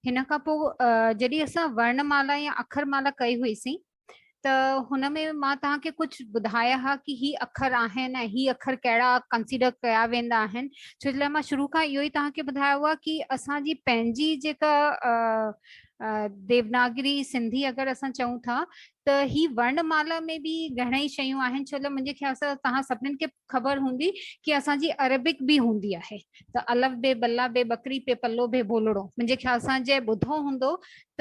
هن کان پوء جڏهن اسان ورنمالا يا اکر مالا ڪئي هئيسين ته هن ۾ مان توهان کي ڪجهه ٻڌايا هئا ڪي هي اکر آهن ۽ هي اکر ڪهڙا ڪنسيڊر ڪيا ويندا آهن ڇو جي لاء مان شروع کان اهو ئي توهان کي ٻڌايو هئا ڪي اسان جي پنهنجي جيڪا ديوناگري سنڌي اگر اسان چئون ٿا ته هي ورڻ مالا ۾ به گهڻيئي شيون آهن ڇو ته منهنجي خيال سان توهان سڀنين کي خبر هوندي ڪي اسان جي عربڪ به هوندي آهي ته الف بي بلا بي ٻڪري پي پلو بي ڀولڙو منهنجي خيال سان جنهن ٻڌو هوندو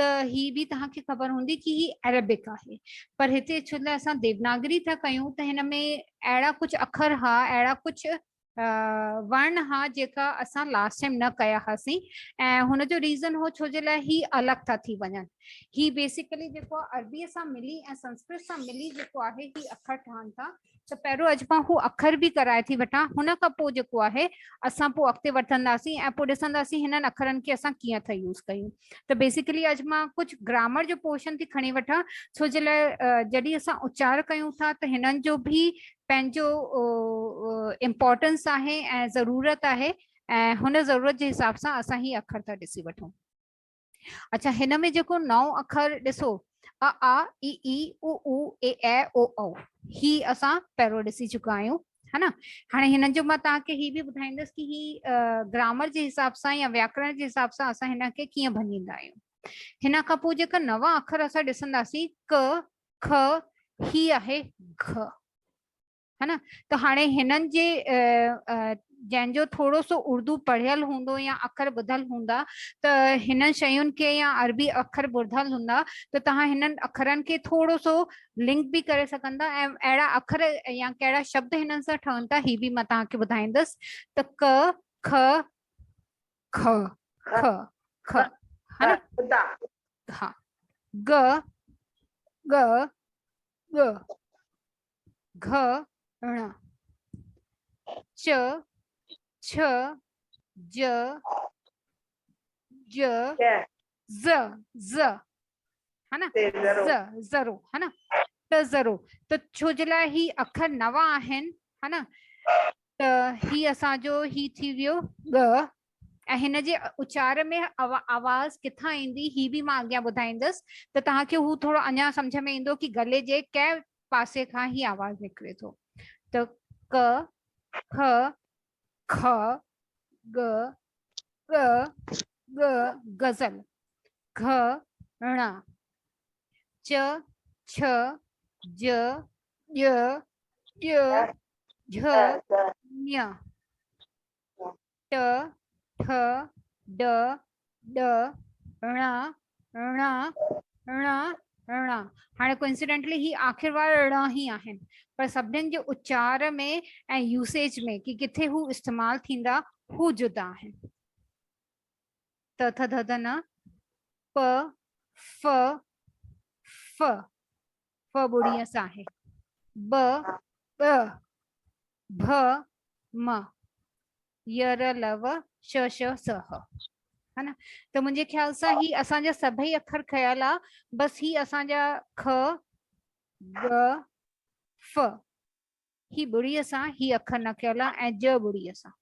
ته هي به توهان کي خبر هوندي ڪي هي عربڪ آهي پر هتي ڇو لاء اسان ديوناگري ٿا ڪيون ته هن ۾ اهڙا ڪجهه اکر ها اهڙا ڪجهه ورن ها جيڪا اسان لاسٽ ٽائيم نه ڪيا هاسين ۽ هن جو ريزن هو ڇو جي لاء هي الڳ ٿا ٿي وڃن هي بيسيڪلي جيڪو عربي سان ملي ۽ سنسڪرت سان ملي جيڪو آهي هي اکر ٺهن ٿا ته پهريون اڄ پا هو اکر به ڪرائي ٿي وٺان هن کان پوء جيڪو آهي اسان پوء اڳتي وٺنداسين ۽ پوء ڏسنداسين هنن اکرن کي اسان ڪيئن ٿا يوز ڪيون ته بيسيڪلي اڄ مان ڪجهه گرامر جو پورشن ٿي کڻي وٺان ڇو جي لاء جڏهن اسان اچار ڪيون ٿا ته هنن جو به پنهنجو امپورٽنس آهي ۽ ضرورت آهي ۽ هن ضرورت جي حساب سان اسان هي اکر ٿا ڏسي وٺون اچھا هن ۾ جيڪو نو اکر ڏسو ا آ اي اي او او اي اي او او هي اسان پهرو ڏسي چڪا آهيون ها نه هاڻي هن جو مان توهان کي هي به ٻڌائيندس ڪي هي گرامر جي حساب سان يا وياڪرڻ جي حساب سان اسان هن کي ڪيئن ڀڃيندا آهيون هن کان پوء جيڪا نوان اکر اسان ڏسنداسين ڪ خ هي آهي گھ ها نه ته هاڻي هنن جي جنهن جو ٿورو سو اردو پڙهيل هوندو يا اکر ٻڌل هوندا ته هنن شين کي يا عربي اکر ٻڌل هوندا ته توهان هنن اکرن کي ٿورو سو لنڪ به ڪري سگهن ٿا ۽ اهڙا اکر يا ڪهڙا شبد هنن سان ٺهن ٿا هي به مان توهان کي ٻڌائيندس ته ڪ خ خ خ خ ها گ گ گ گھ ڻ چ چھ ج ج ز ز ها نه ز ذرو ها نه ته ذرو ته ڇو جي لاء هي اکر نوا آهن ها نه ته هي اسان جو هي ٿي ويو ڳ ۽ هن جي اچار ۾ آواز ڪٿان ايندي هي به مان اڳيان ٻڌائيندس ته توهان کي هو ٿورو اڃا سمجھ ۾ ايندو ڪي گلي جي ڪنهن پاسي کان هي آواز نڪري ٿو ته ڪ خ خ، ڳ، ڳ، ڳ، غزل، گھ، ڻ، چ، ڇ، ج، ڄ، ڄ، جھ، ڃ، ٽ، ٺ، ڊ، ڏ، ڻ، ڻ، ڻ، ڻ. هاڻي Coincidentally هي آخر وارا ڙا هي آهن پر سڀنين جي اچار ۾ ۽ يوسيج ۾ ڪي ڪٿي هو استعمال ٿيندا هو جدا آهن. ت ٿ ڌ ڌ ن پ ف ف ف ٻڙي اس آهي ب ٻ ڀ م ي ر ل و ش ش س ح ها نه ته منهنجي خيال سان هي اسان جا سڀئي اکر کيل آ بس هي اسان جا خ گ ف هي ٻڙي اسان هي اکر نه کيل آ ۽ ج ٻڙي اسان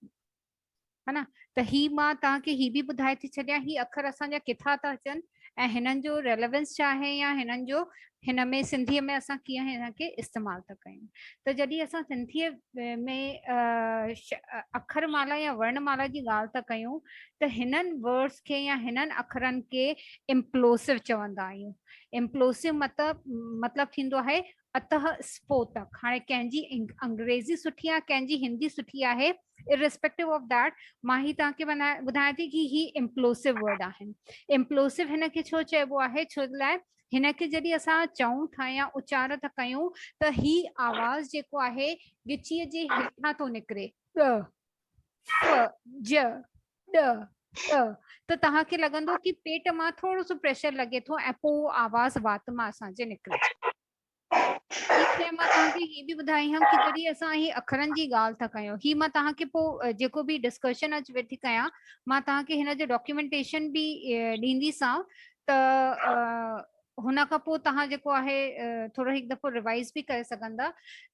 ها نه ته هي مان تان کي هي به ٻڌائي ٿي ڇڏيان هي اکر اسان جا ڪٿا ٿا اچن ۽ هنن جو Relevance ڇا آهي يا هنن جو هن ۾ سنڌي ۾ اسان ڪيئن هن کي استعمال ٿا ڪيون ته جڏهن اسان سنڌي ۾ اکر مالا يا ورن مالا جي ڳالهه ٿا ڪيون ته هنن Words کي يا هنن اکرن کي Implosive چوندا آهيون Implosive مطلب مطلب ٿيندو آهي اته اسڦوٽڪ هاڻي ڪنهن جي انگريزي سٺي آهي ڪنهن جي هندي سٺي آهي Irrespective of that مان هي توهان کي ٻڌايان ٿي ڪي هي Implosive word آهن Implosive هن کي ڇو چئبو آهي ڇو لاء هن کي جڏهن اسان چئون ٿا يا اچار ٿا ڪيون ته هي آواز جيڪو آهي ڳچيء جي هيٺان ٿو نڪري ڳ ج ڏ ڏ ته توهان کي لڳندو ڪي پيٽ مان ٿورو سو پريشر لڳي ٿو ۽ پوء آواز وات مان اسان جي نڪري ٿي مان توهان کي هي به ٻڌائي هم ڪي جڏهن اسان هي اکرن جي ڳالهه ٿا ڪيون هي مان توهان کي پوء جيڪو به ڊسڪشن اچ ويٺي ڪيان مان توهان کي هن جو ڊاڪيومينٽيشن به ڏيندي سان ته هن کان پوء توهان جيڪو آهي ٿورو هڪ دفعو ريوائز به ڪري سگهندا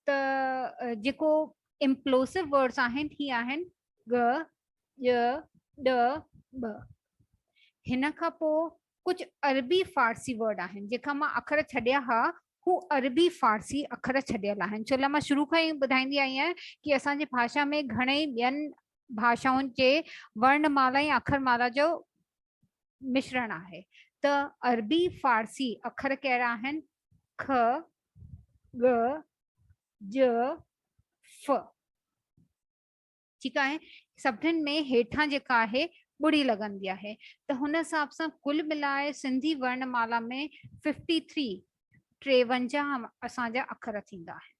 ته جيڪو امپلوسو ورڊس آهن هي آهن ڳ ڄ ڏ ٻ هن کان پو ڪجهه عربي فارسي ورڊ آهن جيڪا مان اکر ڇڏيا ها هو عربي فارسي اکر ڇڏيل آهن ڇو لاء مان شروع کان ئي ٻڌائيندي آئي آهيان ڪي اسان جي ڀاشا ۾ گهڻي ٻين ڀاشائن جي ورن مالا ۽ اکر مالا جو مشرڻ آهي ته عربي فارسي اکر ڪهڙا آهن که ڳ ج ف ٺيڪ آهي سڀني ۾ هيٺان جيڪا آهي ٻڙي لڳندي آهي ته هن حساب سان ڪل ملائي سنڌي ورنمالا ۾ 53 ٽيونجاهه اسانجا اکر ٿيندا آهن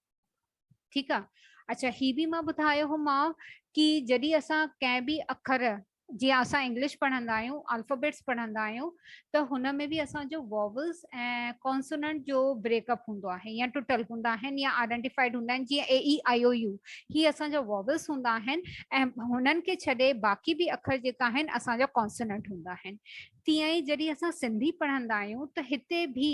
ٺيڪ آهي اچا هي به مان ٻڌايو هو ماء ڪي جڏي اسان ڪنهن به اکر جيئن اسان انگلش پڙهندا آهيون، الفابيٽس پڙهندا آهيون ته هن ۾ به اسان جو واولز ۽ ڪانسوننٽ جو بريڪ اپ هوندو آهي يا ٽٽل هوندا آهن يا آئيڊينٽيفائيڊ هوندا آهن جيئن اي اي آئي او يو هي اسان جا واولز هوندا آهن ۽ هنن کي ڇڏي باقي به اکر جيڪا آهن اسان جا ڪانسوننٽ هوندا آهن تيئن ئي جڏهن اسان سنڌي پڙهندا آهيون ته هتي به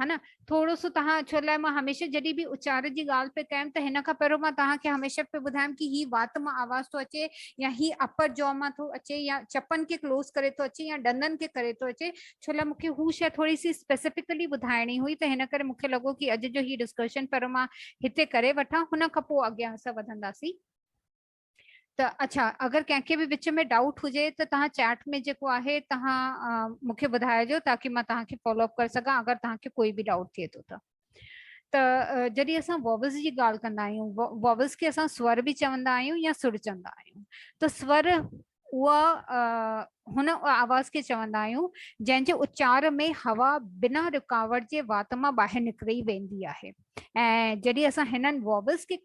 ها نه ٿورو سو توهان ڇو لاء مان هميشه جڏهن به اچار جي ڳالهه پي ڪيم ته هن کان پهريون مان توهان کي هميشه پي ٻڌايم ڪي هي وات مان آواز ٿو اچي يا هي اپر جاء مان ٿو اچي يا چپن کي ڪلوز ڪري ٿو اچي يا ڏندن کي ڪري ٿو اچي ڇو لاء مون کي هو شيء ٿوري سي اسپيسيفڪلي ٻڌائڻي هئي ته هن ڪري مون کي لڳو ڪي اڄ جو هي ڊسڪشن پهريون مان هتي ڪري وٺان هن کان پوء اڳيان اسان وڌنداسين. ته اڇا اگر ڪنهن کي به وچ ۾ ڊائوٽ هجي ته تهان چيٽ ۾ جيڪو آهي تهان مون کي ٻڌائجو تاڪي مان تهان کي فالو اپ ڪري سگهان اگر تهان کي ڪوئي به ڊائوٽ ٿئي ٿو ته ته جڏهن اسان ووبلز جي ڳالهه ڪندا آهيون ووبلز کي اسان سور به چوندا آهيون يا سر چوندا آهيون ته سور اها هن آواز کي چوندا آهيون جنهن جي اچار ۾ هوا بنا رڪاوٽ جي وات مان ٻاهر نڪري ويندي آهي ۽ جڏهن اسان هنن ووبلز کي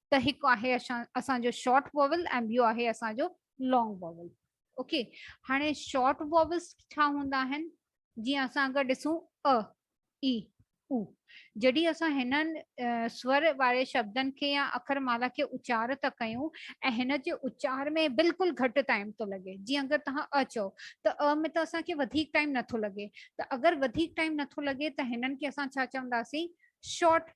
ته هڪ آهي اسان جو شارٽ واول ۽ ٻيو آهي اسان جو لانگ واول اوڪي هاڻي شارٽ واولس ڇا هوندا آهن جي اسان اگر ڏسون ا اي او جڏهن اسان هنن سور واري شبدن کي يا اکر مالا کي اچار ٿا ڪيون ۽ هن جي اچار ۾ بلڪل گهٽ ٽائيم ٿو لڳي جي اگر توهان ا چئو ته ا ۾ ته اسان کي وڌيڪ ٽائيم نٿو لڳي ته اگر وڌيڪ ٽائيم نٿو لڳي ته هنن کي اسان ڇا چونداسين شارٽ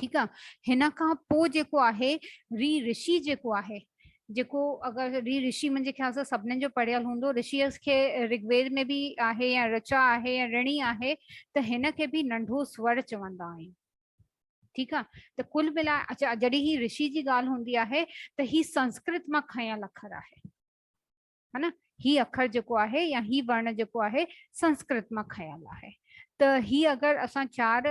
ٺيڪ آ هن کان پو جيڪو آهي ري رشي جيڪو آهي جيڪو اگر ري رشي منهنجي خيال سان سڀنن جو پڙهيل هوندو رشي کي رگويد ۾ به آهي يا رچا آهي يا رڻي آهي ته هن کي به ننڍو سور چوندا آهن ٺيڪ آ ته کل ملا اچا جڏهن هي رشي جي ڳالهه هوندي آهي ته هي سنسڪرت مان کنيل اکر آهي ها نه هي اکر جيڪو آهي يا هي ورڻ جيڪو آهي سنسڪرت مان کنيل آهي ته هي اگر اسان چار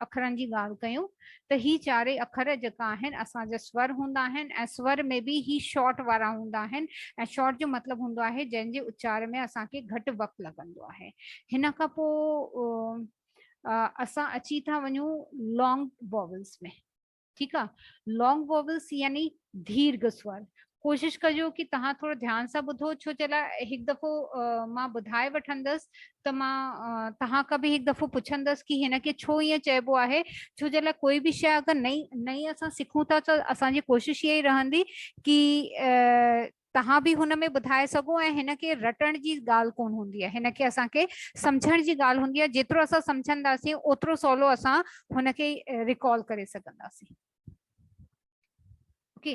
اکرن جي ڳالهه ڪيون ته هي چارئي اکر جيڪا آهن اسان جا سور هوندا آهن ۽ سور ۾ به هي شارٽ وارا هوندا آهن ۽ شارٽ جو مطلب هوندو آهي جنهن جي اچار ۾ اسان کي گهٽ وقت لڳندو آهي هن کان پوء اسان اچي ٿا وڃون لانگ واولز ۾ ٺيڪ آ لانگ وويلس يعني ديرگه سور ڪوشش ڪجو ڪي تهان ٿورو ڌيان سان ٻڌو ڇو جي لاء هڪ دفعو مان ٻڌائي وٺندس ته مان تهان کان به هڪ دفعو پڇندس ڪي هن کي ڇو ائين چئبو آهي ڇو جي لاء ڪوئي به شيء اگر نئي نئي اسان سکون ٿا ته اسان جي ڪوشش هي ئي رهندي ڪي توهان به هن ۾ ٻڌائي سگهو ۽ هن کي رٽڻ جي ڳالهه ڪونه هوندي آهي هن کي اسان کي سمجهڻ جي ڳالهه هوندي آهي جيترو اسان سمجهنداسين اوترو سولو اسان هن کي ريڪال ڪري سگهنداسين اوڪي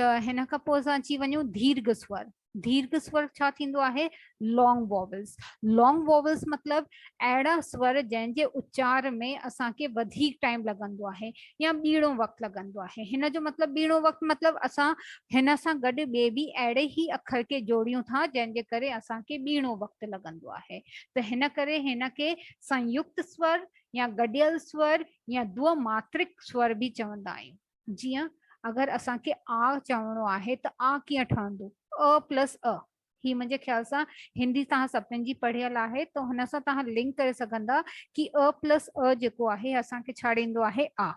ته هن کان پوء اسان اچي وڃون ديرگهه سور ديرگهه سور ڇا ٿيندو آهي لانگ واولس لانگ واولس مطلب اهڙا سور جنهن جي اچار ۾ اسان کي وڌيڪ ٽائيم لڳندو آهي يا ٻيڻو وقت لڳندو آهي هن جو مطلب ٻيڻو وقت مطلب اسان هن سان گڏ ٻي به اهڙي ئي اکر کي جوڙيون ٿا جنهن جي ڪري اسان کي ٻيڻو وقت لڳندو آهي ته هن ڪري هن کي سنيڪت سور يا گڏيل سور يا دو ماترڪ سور به چوندا آهيون جيئن اگر اسان کي آ چوڻو آهي ته آ ڪيئن ٺهندو ا پلس ا هي منهنجي خيال سان هندي توهان سڀني جي پڙهيل آهي ته هن سان توهان لنڪ ڪري سگهندا ڪي ا پلس ا جيڪو آهي اسان کي ڇا ڏيندو آهي آ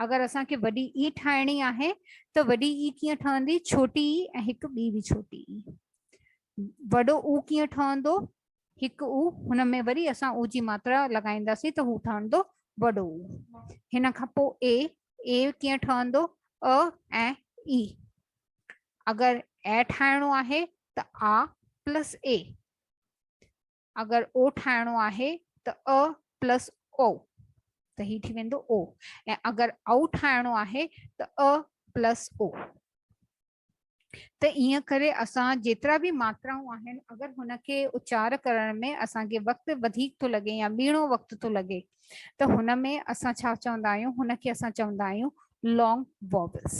اگر اسان کي وڏي اي ٺاهڻي آهي ته وڏي اي ڪيئن ٺهندي ڇوٽي اي ۽ هڪ ٻي به ڇوٽي اي وڏو او ڪيئن ٺهندو هڪ او هن ۾ وري اسان او جي ماترا لڳائينداسي ته هو ٺهندو وڏو هن کان پوء اي اي ڪيئن ٺهندو ا ۽ اي اگر اي ٺاهڻو آهي ته آ پلس اي، اگر او ٺاهڻو آهي ته ا پلس او ته هي ٿي ويندو او ۽ اگر او ٺاهڻو آهي ته ا پلس او ته ائين ڪري اسان جيترا به ماترائون آهن اگر هن کي اچار ڪرڻ ۾ اسان کي وقت وڌيڪ ٿو لڳي يا ٻيڻو وقت ٿو لڳي ته هن ۾ اسان ڇا چوندا آهيون هن کي اسان چوندا آهيون لانگ ووبلس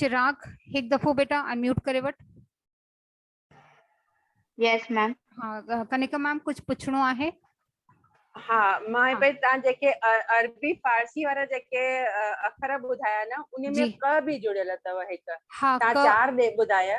چراغ هڪ دفعو بيٽا انميوٽ ڪري وٺ يس ميم ها ڪنيڪا ميم ڪجهه پڇڻو آهي ها مان پي تان جيڪي عربي فارسي وارا جيڪي اکر ٻڌايا نه ان ۾ ڪه به جڙيل اٿو هڪ تان چار دي ٻڌايا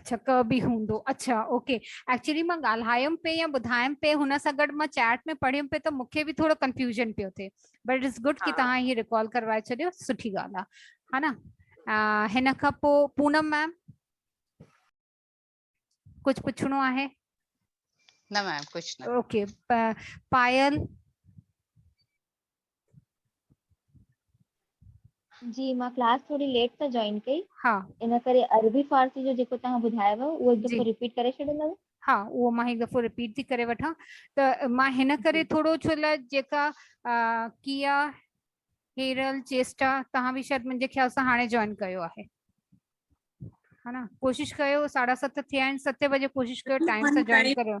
اچھا ڪه به هوندو اچھا اوڪي ايڪچولي مان ڳالهايم پي يا ٻڌايم پي هن سان گڏ مان چيٽ ۾ پڙهيم پي ته مونکي به ٿورو ڪنفيوزن پيو ٿي بٽ اٽس گڊ ڪي توهان هي ريڪال ڪروائي ڇڏيو سٺي ڳالهه آ ها نه هن کان پو پونم ميم ڪجھ پڇڻو آهي نه ميم ڪجھ نه اوڪي پايل جي مان ڪلاس ٿوري ليٽ سان جوائن ڪئي ها ان ڪري عربي فارسي جو جيڪو توهان ٻڌايو هو اهو هڪ جي دفعو رپيٽ ڪري ڇڏيندو ها اهو مان هڪ دفعو رپيٽ ٿي ڪري وٺان ته مان هن جي ڪري ٿورو ڇو لاء جيڪا ڪيا هيرل چيسٽا توهان به شايد منهنجي خيال سان هاڻي جوائن ڪيو آهي ها نه ڪوشش ڪيو ساڍا ست ٿيا آهن ستين بجي ڪوشش ڪيو ٽائيم سان جوائن ڪريو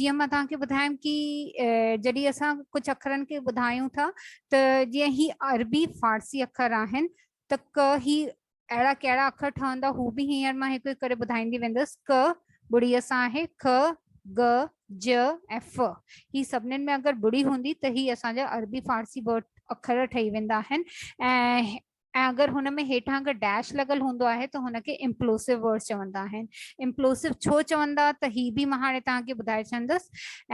جيئن مان توهان کي ٻڌايم ڪي جڏهن اسان ڪجهه اکرن کي ٻڌايون ٿا ته جيئن هي عربي فارسي اکر آهن ته ڪ هي اهڙا ڪهڙا اکر ٺهندا هو به هينئر مان هڪ هڪ ڪري ٻڌائيندي ويندس ڪ ٻڙي سان آهي ک گ ج ۽ ف هي سڀني ۾ اگر ٻڙي هوندي ته هي اسان جا عربي فارسي ورڊ اکر ٺهي ويندا آهن ۽ ۽ اگر هن ۾ هيٺان اگر ڊيش لڳل هوندو آهي ته هن کي امپلوسو ورڊس چوندا آهن امپلوسو ڇو چوندا ته هي به مان هاڻي توهان کي ٻڌائي ڇڏندس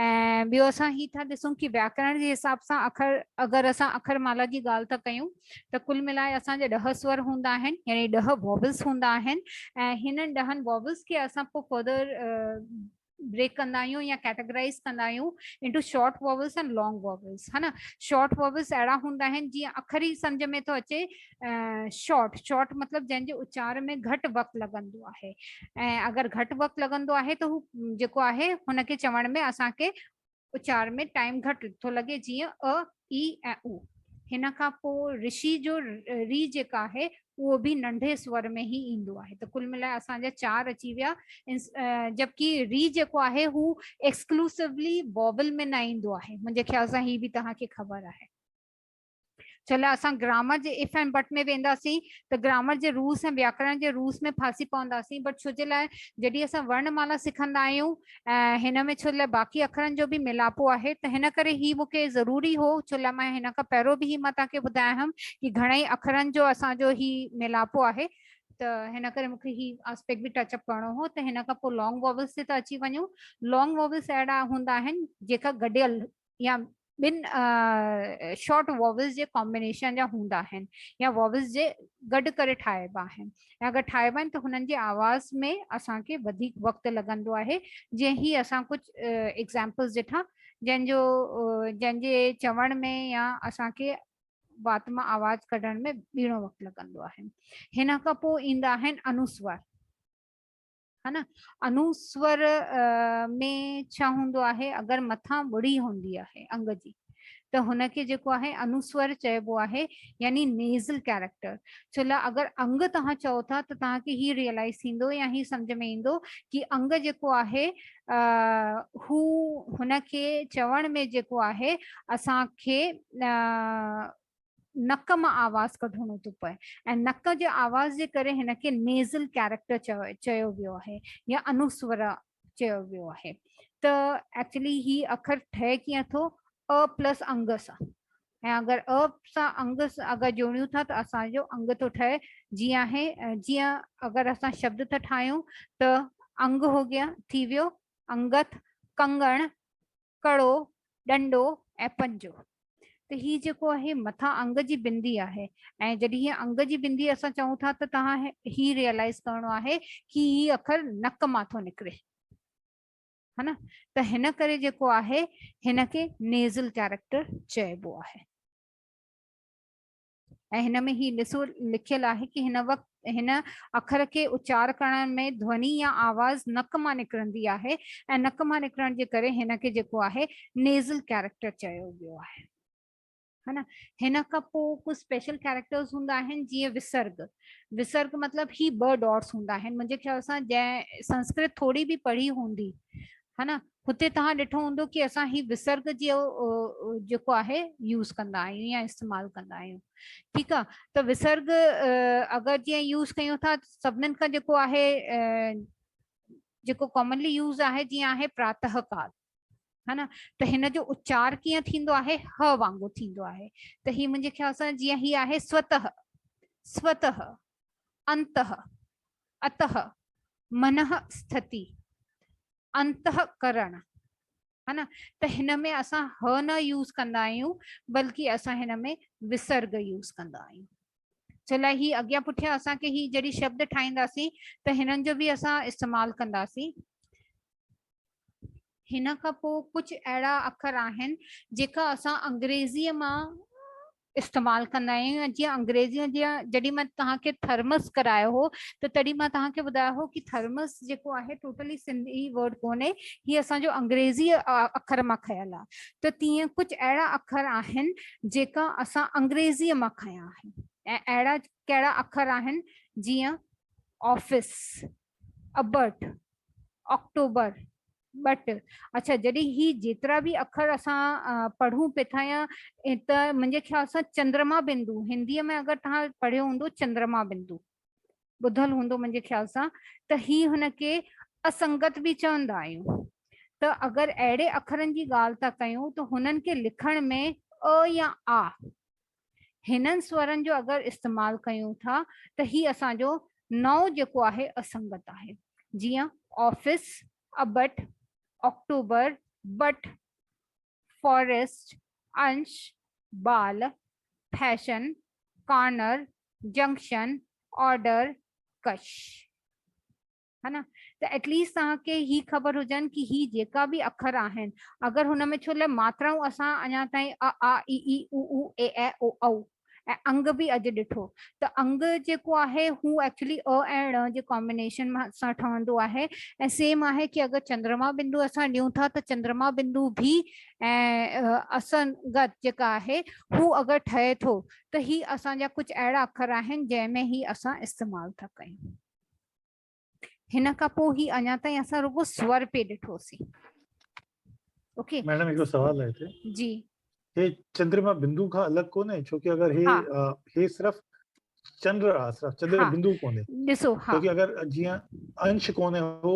۽ ٻيو اسان هي ٿا ڏسون ڪي وياڪرڻ جي حساب سان اکر اگر اسان اکر مالا جي ڳالهه ٿا ڪيون ته ڪل ملائي اسان جا ڏهه سور هوندا آهن يعني ڏهه ووبلس هوندا آهن ۽ هنن ڏهن ووبلس کي اسان پوء فردر بريڪ ڪندا آهيون يا ڪيٽاگرائز ڪندا آهيون into short vowels and long vowels ها نه شارٽ واولس اهڙا هوندا آهن جيئن اکر ئي سمجھ ۾ ٿو اچي شارٽ شارٽ مطلب جنهن جي اچار ۾ گهٽ وقت لڳندو آهي ۽ اگر گهٽ وقت لڳندو آهي ته هو جيڪو آهي هن کي چوڻ ۾ اسان کي اچار ۾ ٽائيم گهٽ ٿو لڳي جيئن ء، اي ۽ او. هن کان پوء رشي جو ري جيڪا آهي اهو به ننڍي سور ۾ هي ايندو آهي ته ڪل ملائي اسان جا چار اچي ويا جبڪي ري جيڪو آهي هو ايڪسڪلوسوولي واول ۾ نه ايندو آهي منهنجي خيال سان هي به توهان کي خبر آهي. ڇا لاء اسان گرامر جي اف ۽ بٽ ۾ وينداسين ته گرامر جي روس ۽ وياڪرڻ جي روس ۾ ڦاسي پونداسين بٽ ڇو جي لاء جڏهن اسان ورڻ مالا سکندا آهيون ۽ هن ۾ ڇو جي لاء باقي اکرن جو به ميلاپو آهي ته هن ڪري هي مون کي ضروري هو ڇو لاء مان هن کان پهرو به هي مان توهان کي ٻڌايا هيم ڪي گهڻائي اکرن جو اسان جو هي ميلاپو آهي ته هن ڪري مون کي هي آسپيڪ به ٽچ اپ ڪرڻو هو ته هن کان پوء لانگ واولس تي ته اچي وڃون لانگ واولس اهڙا هوندا آهن جيڪا گڏيل يا ٻن شارٽ واولز جي ڪامبنيشن جا هوندا آهن يا واولز جي گڏ ڪري ٺاهبا آهن ۽ اگر ٺاهبا آهن ته هنن جي آواز ۾ اسان کي وڌيڪ وقت لڳندو آهي جيئن هي اسان ڪجهه ايگزامپلز ڏٺا جن جو جن جي چوڻ ۾ يا اسان کي وات مان آواز ڪڍڻ ۾ ٻيڻو وقت لڳندو آهي هن کان پوء ايندا آهن انوسوار ها نه انوسور ۾ ڇا هوندو آهي اگر مٿان ٻڙي هوندي آهي انگ جي ته هن کي جيڪو آهي انوسور چئبو آهي يعني نيزل ڪيريڪٽر ڇو لا اگر انگ توهان چئو ٿا ته توهان کي هي ريئلائز ٿيندو يا هي سمجھ ۾ ايندو ڪي انگ جيڪو آهي هو هن کي چوڻ ۾ جيڪو آهي اسان کي نڪ مان آواز ڪڍڻو ٿو پوي ۽ نڪ جي آواز جي ڪري هن کي نيزل ڪيريڪٽر چيو ويو آهي يا انوسور چيو ويو آهي ته ايڪچولي هي اکر ٺهي ڪيئن ٿو ا پلس انگ سان ۽ اگر ا سان انگ اگر جوڙيون ٿا ته اسانجو انگ ٿو ٺهي جي آهي جيئن اگر اسان شبد ٿا ٺاهيون ته انگ هو گيا ٿي ويو انگت ڪنگڻ ڪڙو، ڏنڊو ۽ پنجو. ته هي جيڪو آهي مٿان انگ جي بندي آهي ۽ جڏهن هي انگ جي بندي اسان چئون ٿا ته توهان هي ريئلائز ڪرڻو آهي ڪي هي اکر نڪ مان ٿو نڪري ها نه ته هن ڪري جيڪو آهي هن کي نيزل ڪيريڪٽر چئبو آهي. ۽ هن ۾ هي ڏسو لکيل آهي ڪي هن وقت هن اکر کي اچار ڪرڻ ۾ ڌوني يا آواز نڪ مان نڪرندي آهي ۽ نڪ مان نڪرڻ جي ڪري هن کي جيڪو آهي نيزل ڪيريڪٽر چيو ويو آهي هن هن کان پو ڪو اسپيشل ڪيريڪٽرز هوندا آهن جيئن وسرگ وسرگ مطلب هي ٻه ڊاٽس هوندا آهن منهنجي خيال سان جنهن سنسڪرت ٿوري به پڙهي هوندي ها نه هتي توهان ڏٺو هوندو ڪي اسان هي وسرگ جي جيڪو آهي يوز ڪندا آهيون يا استعمال ڪندا آهيون ٺيڪ آ ته وسرگ اگر جي يوز ڪيون ٿا سڀنن کان جيڪو آهي جيڪو ڪامنلي يوز آهي جي آهي پراتهه ڪال ها نه ته هن جو اچار ڪيئن ٿيندو آهي ه وانگو ٿيندو آهي ته هي منهنجي خيال سان جي هي آهي سوته سوته انته اتئ منه سٿتي، انتئ ڪرڻ، ها نه ته هن ۾ اسان ه نه يوز ڪندا آهيون بلڪه اسان هن ۾ وسرگ يوز ڪندا آهيون ڇو لاء هي اڳيان پٺيان اسان کي هي جڏهن شبد ٺاهينداسين ته هنن جو به اسان استعمال ڪنداسين هن کان پوء ڪجهه اهڙا اکر آهن جيڪا اسان انگريزيء مان استعمال ڪندا آهيون ۽ جيئن انگريزيء جا جڏهن مان توهان کي ٿرمس ڪرايو هو ته تڏهن مان توهان کي ٻڌايو هو ڪي ٿرمس جيڪو آهي ٽوٽلي سنڌي ورڊ ڪونهي هي اسان جو انگريزيء اکر مان کنيل آهي ته تيئن ڪجهه اهڙا اکر آهن جيڪا اسان انگريزيء مان کنيا آهن ۽ اهڙا ڪهڙا اکر آهن جيئن آفيس ابرٽ، آڪٽوبر، ٻٽ، اڇا جڏهن هي جيترا به اکر اسان پڙهون پي ٿا يا ته منهنجي خيال سان چندرما بندو هندي ۾ اگر توهان پڙهيو هوندو چندرما بندو ٻڌل هوندو منهنجي خيال سان ته هي هن کي اسنگت به چوندا آهيون ته اگر اهڙي اکرن جي ڳالهه ٿا ڪيون ته هنن کي لکڻ ۾ ء يا آ هنن سورن جو اگر استعمال ڪيون ٿا ته هي اسان جو نئون جيڪو آهي اسنگت آهي جيئن office, abut, October, but, forest, inch, ball, fashion, corner, junction, order, cush. ها نه ته ائٽ ليسٽ توهان کي هي خبر هجن ڪي هي جيڪا به اکر آهن اگر هن ۾ ڇو لاء ماترائون اسان اڃا تائين ا آ اي اي او او اي اي او او ۽ انگ به اڄ ڏٺو ته انگ جيڪو آهي هو ايڪچولي ء ۽ ڙ جي ڪامبينيشن سان ٺهندو آهي ۽ سيم آهي ڪي اگر چندرما بندو اسان ڏيون ٿا ته چندرما بندو ڀي ۽ اسنگت جيڪا آهي هو اگر ٺهي ٿو ته هي اسان جا ڪجهه اهڙا اکر آهن جنهن ۾ هي اسان استعمال ٿا ڪيون. هن کان پوء هي اڃا تائين اسان رڳو سور پي ڏٺوسين اوڪي ميڊم هڪ سوال آهي هتي جي هي چندرما بندو کان الڳ ڪونهي ڇو ڪي اگر هي هي صرف چنڊ آ صرف چنڊ بندو ڪونهي ڏسو ها ڇو ڪي اگر جيئن انش ڪونهي هو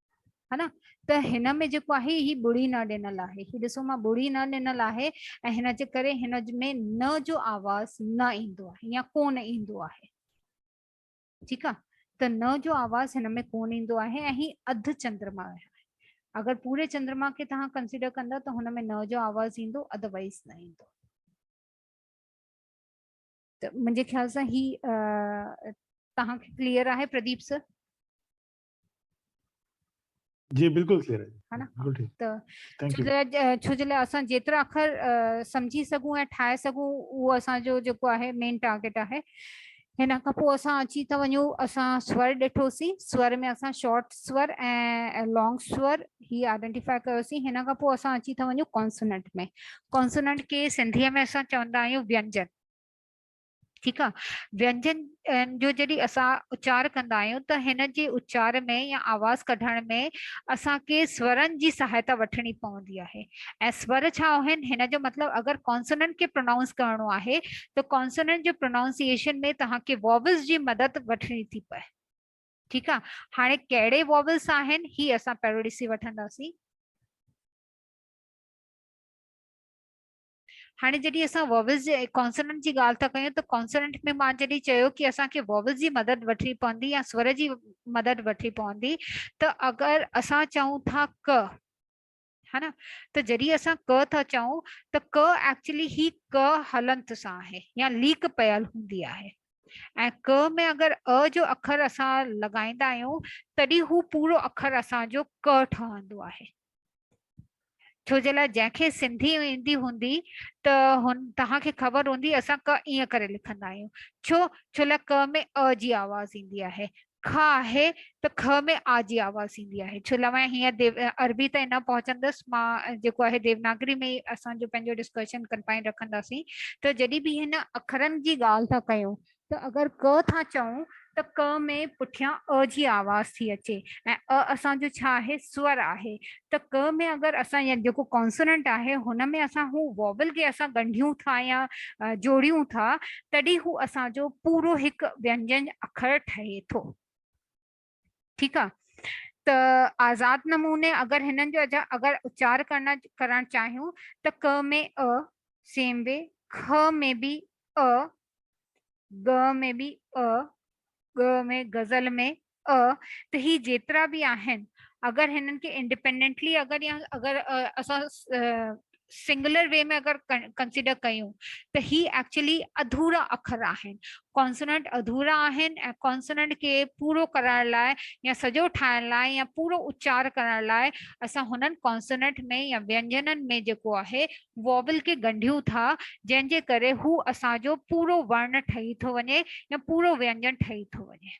ها نه ته هن ۾ جيڪو آهي هي ٻڙي نه ڏنل آهي هي ڏسو مان ٻڙي نه ڏنل آهي ۽ هن جي ڪري هن ۾ نه جو آواز نه ايندو آهي يا ڪون ايندو آهي ٺيڪ آهي ته نه جو آواز هن ۾ ڪون ايندو آهي ۽ هي اڌ چندرما آهي اگر پوري چندرما کي توهان ڪنسيڊر ڪندا ته هن ۾ نه جو آواز ايندو اڌروايز نه ايندو ته منهنجي خيال سان هي توهان کي ڪليئر آهي پرديپ سر جي بلڪل ٿي رهي ها نه بلڪل ٺيڪ ته ٿينڪ يو ڇو جي لاء اسان جيترا اکر سمجهي سگهون ۽ ٺاهي سگهون اهو اسان جو جيڪو آهي مين ٽارگيٽ آهي هن کان پوء اسان اچي ٿا وڃون اسان سور ڏٺوسي سور ۾ اسان شارٽ سور ۽ لانگ سور هي آئيڊنٽيفائي ڪيوسي هن کان پوء اسان اچي ٿا وڃون ڪانسوننٽ ۾ ڪانسوننٽ کي سنڌي ۾ اسان چوندا آهيون وينجن ٺيڪ آ وينجن جو جڏهن اسان اچار ڪندا آهيون ته هن جي اچار ۾ يا آواز ڪڍڻ ۾ اسان کي سورن جي سهائتا وٺڻي پوندي آهي ۽ سور ڇا آهن هن جو مطلب اگر ڪانسوننٽ کي پرونائونس ڪرڻو آهي ته ڪانسوننٽ جو پرونائونسيئيشن ۾ توهان کي واويلز جي مدد وٺڻي ٿي پئي ٺيڪ آ هاڻي ڪهڙي واويلز آهن هي اسان پهريون ڏسي وٺنداسين هاڻي جڏهن اسان واويلز جي ۽ ڪانسوننٽ جي ڳالهه ٿا ڪيون ته ڪانسوننٽ ۾ مان جڏهن چيو ڪي اسان کي واويلز جي مدد وٺڻي پوندي يا سور جي مدد وٺڻي پوندي ته اگر اسان چئون ٿا ڪ ها نه ته جڏهن اسان ڪ ٿا چئون ته ڪ ايڪچولي هي ڪ هلنت سان آهي يا ليڪ پيل هوندي آهي ۽ ڪ ۾ اگر ا جو اکر اسان لڳائيندا آهيون تڏهن هو پورو اکر اسان جو ڪ ٺهندو آهي ڇو جي لاء جنهن کي سنڌي ايندي هوندي ته هن توهان کي خبر هوندي اسان ڪه ائين ڪري لکندا آهيون ڇو ڇو لاء ڪه ۾ ا جي آواز ايندي آهي که آهي ته که ۾ آ جي آواز ايندي آهي ڇو لاء مان هيئن ديو عربي تائين نه پهچندس مان جيڪو آهي ديوناگري ۾ اسان جو پنهنجو ڊسڪشن ڪنفائن رکنداسين ته جڏهن به هن اکرن جي ڳالهه ٿا ڪيون ته اگر ڪه ٿا چئون ته ڪه ۾ پٺيان ء جي آواز ٿي اچي ۽ ء اسان جو ڇا آهي؟ سور آهي ته ڪه ۾ اگر اسان يا جيڪو ڪانسوننٽ آهي هن ۾ اسان هو واول کي اسان ڳنڍيون ٿا يا جوڙيون ٿا تڏهن هو اسان جو پورو هڪ وينجن اکر ٺهي ٿو. ٺيڪ آ ته آزاد نموني اگر هنن جو اگر اچار ڪرڻ ڪرڻ چاهيون ته ڪ ۾ ا سيم وي کھ ۾ به ا ڳ ۾ به ا ڳ ۾ غزل ۾ ا ته هي جيترا به آهن اگر هنن کي انڊيپينڊنٽلي اگر يا اگر اسان سنگولر وي ۾ اگر ڪنسيڊر ڪيون ته هي ايڪچولي اڌورا اکر آهن ڪانسوننٽ اڌورا آهن ۽ ڪانسوننٽ کي پورو ڪرائڻ لاء يا سڄو ٺاهڻ لاء يا پورو اچار ڪرڻ لاء اسان هنن ڪانسوننٽ ۾ يا وينجنن ۾ جيڪو آهي واول کي ڳنڍيون ٿا جنهن جي ڪري هو اسان جو پورو ورن ٺهي ٿو وڃي يا پورو وينجن ٺهي ٿو وڃي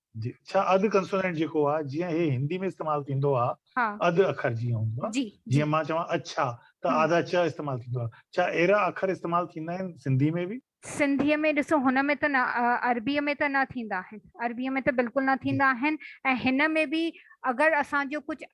جي ڇا اڌ ڪنسونينٽ جيڪو آ جيئن هي هندي ۾ استعمال ٿيندو آ اڌ اکر جيئن هوندو آ جيئن مان چوان اڇا ته آڌا چ استعمال ٿيندو آ ڇا اهڙا اکر استعمال ٿيندا آهن سنڌي ۾ به. سنڌي ۾ ڏسو هن ۾ ته نه عربي ۾ ته نه ٿيندا آهن عربي ۾ ته بلڪل نه ٿيندا آهن ۽ هن ۾ به اگر اسان جو ڪجهه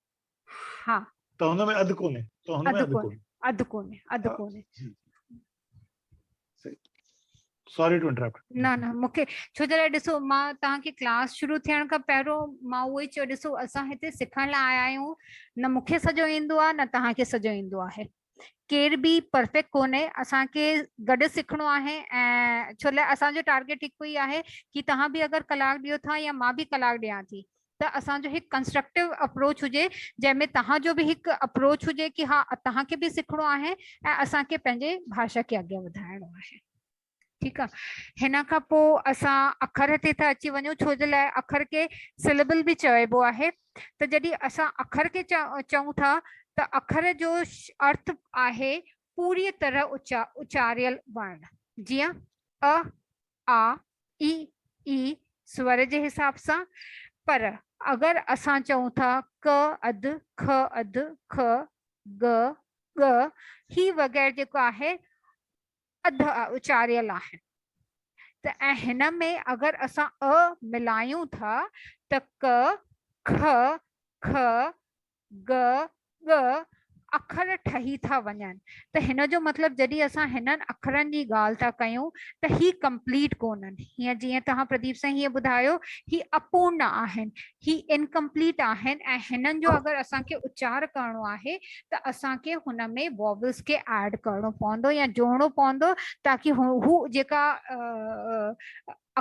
ها ته هن ۾ اڌ ڪونهي ته هن ۾ اڌ ڪونهي اڌ ڪونهي اڌ ڪونهي سوري ٽو انٽرپٽ نه نه مونکي ڇو جي ڏسو مان تان کي ڪلاس شروع ٿيڻ کان پهريون مان اهو ئي چيو ڏسو اسان هتي سکڻ لاء آيا آهيون نه مونکي سڄو ايندو آ نه تان کي سڄو ايندو آهي ڪير به پرفيڪٽ ڪونهي اسان کي گڏ سکڻو آهي ۽ ڇو لاء اسان جو ٽارگيٽ هڪ ئي آهي ڪي توهان به اگر ڪلاڪ ڏيو ٿا يا مان به ڪلاڪ ڏيان ٿي ته اسان جو هڪ ڪنسٽرڪٽو اپروچ هجي جنهن ۾ توهان جو به هڪ اپروچ هجي ڪي ها توهان کي به سکڻو آهي ۽ اسان کي پنهنجي ڀاشا کي اڳيان وڌائڻو آهي ٺيڪ آ هن کان پو اسان اکر تي ٿا اچي وڃون ڇو جي لاء اکر کي سلبل به چئبو آهي ته جڏي اسان اکر کي چئون ٿا ته اکر جو ارٿ آهي پوري طرح اچاريل ورن جيئن ا آ اي اي سور جي حساب سان پر اگر اسان چئون ٿا ڪ اڌ خ اڌ خ گ ڳ هي وغيرھ جيڪو آهي اڌ ا اچاريل آهن ته ۽ هن ۾ اگر اسان ء ملايون ٿا ته ڪ، کء، کء، ڳ، ڳ اکر ٺهي ٿا وڃن ته هن جو مطلب جڏهن اسان هنن اکرن جي ڳالهه ٿا ڪيون ته هي ڪمپليٽ ڪونهن هيئن جيئن توهان پرديپ سائين هيئن ٻڌايو هي اپورن آهن هي انڪمپليٽ آهن ۽ هنن جو اگر اسان کي اچار ڪرڻو آهي ته اسان کي هن ۾ واويلز کي ايڊ ڪرڻو پوندو يا جوڙڻو پوندو تاڪي هو جيڪا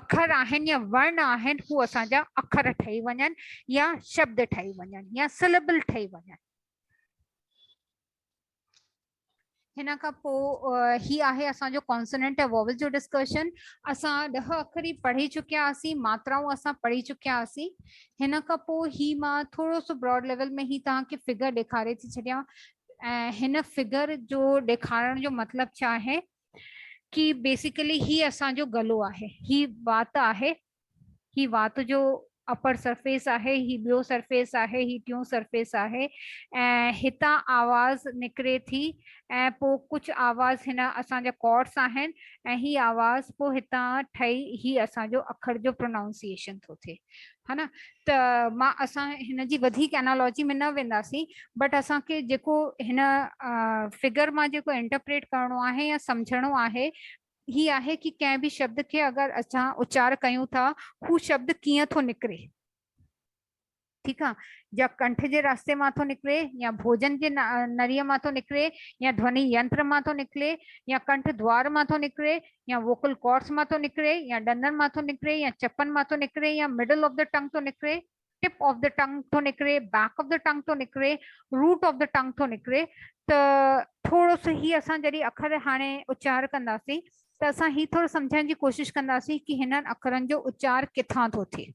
اکر آهن يا ورن آهن هو اسان جا اکر ٺهي وڃن يا شبد ٺهي وڃن يا سلبل ٺهي وڃن هن کان پوء هي آهي اسان جو ڪانسوننٽ ۽ ووول جو ڊسڪشن اسان ڏهه اکر ئي پڙهي چڪيا هئاسين ماترائون اسان پڙهي چڪيا هئاسين هن کان پوء هي مان ٿورو سو براڊ ليول ۾ هي توهان کي فگر ڏيکاري ٿي ڇڏيان ۽ هن فگر جو ڏيکارڻ جو مطلب ڇا آهي ڪي بيسيڪلي هي اسان جو گلو آهي هي وات آهي هي وات جو اپر سرفيس آهي، هي ٻيو سرفيس آهي، هي ٽيون سرفيس آهي ۽ هتان آواز نڪري ٿي ۽ پوء ڪجهه آواز هن اسان جا ڪارڊس آهن ۽ هي آواز پوء هتان ٺهي هي اسان جو اکر جو پرونائونسيئيشن ٿو ٿئي ها نه ته مان اسان هن جي وڌيڪ انالاجي ۾ نه وينداسين بٽ اسان کي جيڪو هن فگر مان جيڪو انٽرپريٽ ڪرڻو آهي يا سمجهڻو آهي هي آهي ڪي ڪنهن به شبد کي اگر اسان اچار ڪيون ٿا هو شبد ڪيئن ٿو نڪري ٺيڪ آ جا ڪنٺ جي راسته مان ٿو نڪري يا ڀوجن جي نري مان ٿو نڪري يا ڌوني ينتر مان ٿو نڪري يا ڪنٺ دوار مان ٿو نڪري يا ووڪل ڪورس مان ٿو نڪري يا ڏندن مان ٿو نڪري يا چپن مان ٿو نڪري يا مڊل آف د ٽنگ ٿو نڪري ٽپ آف دي ٽنگ ٿو نڪري، بيڪ آف دي ٽنگ ٿو نڪري، روٽ آف دي ٽنگ ٿو نڪري ته ٿورو سو هي اسان جڏهن اکر هاڻي اچار ڪنداسين ته اسان هي ٿورو سمجهڻ جي ڪوشش ڪنداسين ڪي هنن اکرن جو اچار ڪٿان ٿو ٿئي